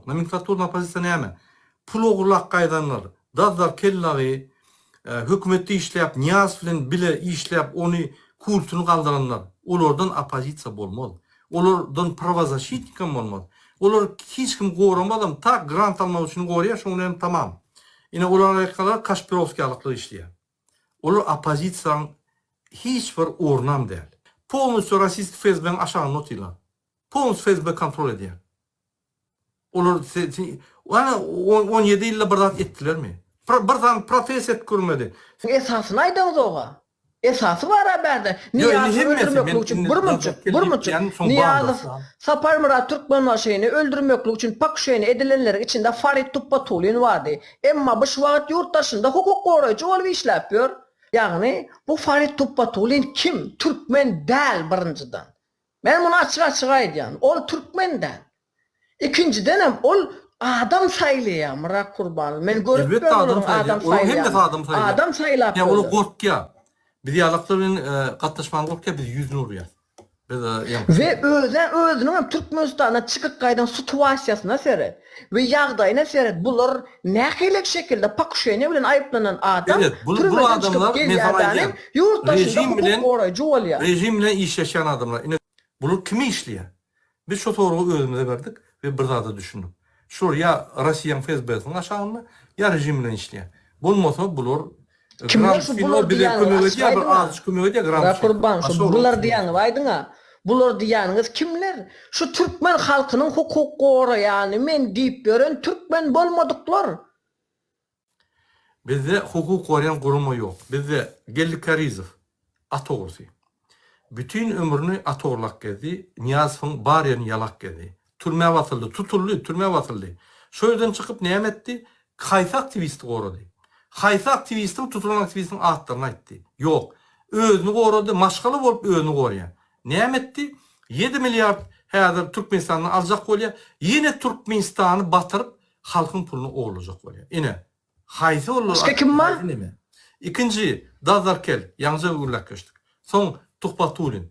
Nomenklaturna opozisiýa näme? Pul ogurlap gaýdanlar. Dazdar Kellagy hökümetde işläp, Nyýazow bilen bile işläp, ony kultuny galdyranlar. Olardan opozisiýa bolmaz. Olardan prawozaşitnikam bolmaz. Olar hiç kim goramazam, tak grant almak üçin gorýar, şoň bilen hem tamam. Ine olar arkaly Kaşpirowskiýalyklar işleýär. Olar opozisiýaň hiç bir ornam däl. Polnusýo rossiýski FSB-niň aşagynda otyrlar. Polnusýo FSB kontrol edýär. Olar ana on ýedi ýylda bir zat etdilermi? Bir zam protest edip görmedi. Siz esasyny aýdaňyzoga. Esasy bara bärde. Nyýazowy öldürmeklik üçin birmünçik, birmünçik Nyýazow, Saparmyrat Türkmenbaşyny öldürmeklik üçin pakuşeniýa edilenleriň içinde Farid Tupbatulin bardy. Emma bu şu wagt ýurt daşynda hukuk goraýjy bolup işläp ýör. Ýagny, bu Farid Tupbatulin kim? Türkmen däl birinjiden. Men muny açyk-açyk aýdýan, ol türkmen däl. Ikinjidenem ol adam saýlaýar Myrat Kurbanly. Men görüp Elbetde bilen adam olaryň saýlaýar. adam Olaryň hemmesi saýlaýanyny. adam saýlaýar. Adam saýlap Ýa olar böler. gorkýar. Biz ýalaklar bilen gatnaşmaga gorkýar, biz ýüzüni urýas. Biz ýa. We özä özüniňem Türkmenistana çykyp gaýdan situasiýasyna seret. We ýagdaýyna seret bular nähelelik şekilde pokuşeniýa bilen aýyplanan adam Belet bul bul türmeden çykyp adamlar men gelýär sana däne aýdýan ýurt daşynda rejim hukuk bilen goraýjy bolýar. rejim bilen işleşýän adamlar ine bular kime işleýär biz şo soragy özümize berdik we bir zada düşündik şular ýa Rossiýaň FSB-siniň aşagynda ýa rejim bilen işleýär bolmasa bular Kimler şu bular diýýäniňiz açyp aýdyňa. Ra Kurban şu bular diýýäňiz aýdyňa. Bular diýýäniňiz kimler? Şu türkmen halkynyň hukuk goraýany men diýip ýören türkmen bolmadyklar. Bizde hukuk goraýan gurama ýok. Bizde Geldi Karizow, At ogrusy. Bütin ömrüni at orlak gezdi, Nyýazowyň bar ýerini ýalak gezdi. Türmä basyldy, tutuldy, türmä basyldy. Şo ýerden çykyp näme etdi? Haýsy aktiwisti gorady? Haýsy aktiwistiň tutulan aktiwistiň atlaryny aýtdy? Ýok. Özüni gorady, maşgala bolup özüni gorýa. Näme etdi? Ýedi milliard häzir Türkmenistandan aljak bolýa, ýene Türkmenistany batyryp halkyň puluny ogurlajak bolýa. Ine, Haýsy bollar akyl haýsy neme. Ikinji Dazarkel ýaňja gürläp geçdik. Soň Tuhbatulin.